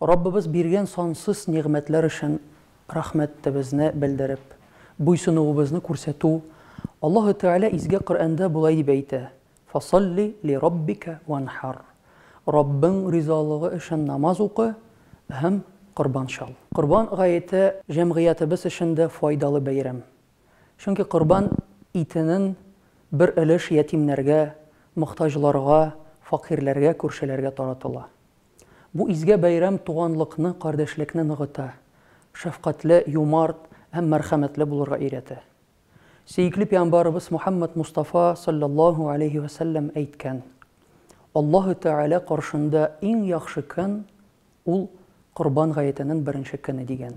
Раббыбыз биргән сансыз нигъмәтләр өчен рәхмәтебезне белдереп, буйсынуыбызны күрсәтү, Аллаһы Тәгалә Изге Коръәндә болай дип әйтә, Фасалли лираббика ванхар, Раббың ризалыгы өчен намаз укы һәм корбан чал. Корбан гаете җәмгыятебез өчен дә файдалы бәйрәм. Чөнки корбан итенең бер өлеш ятимнәргә, мохтаҗларга, факыйрьләргә, күршеләргә таратыла. Бу изге бәйрәм туганлыкны, кардәшлекне ныгыта, шәфкатьле, юмарт һәм мәрхәмәтле булырга өйрәтә. Сөекле пиамбарыбыз Мухәммәд Мустафа салләллаһу алейһи вә сәлләм әйткән, Аллаһы Тәгалә каршында иң яхшы көн, ул Корбан гаетенен беренче көне, дигән.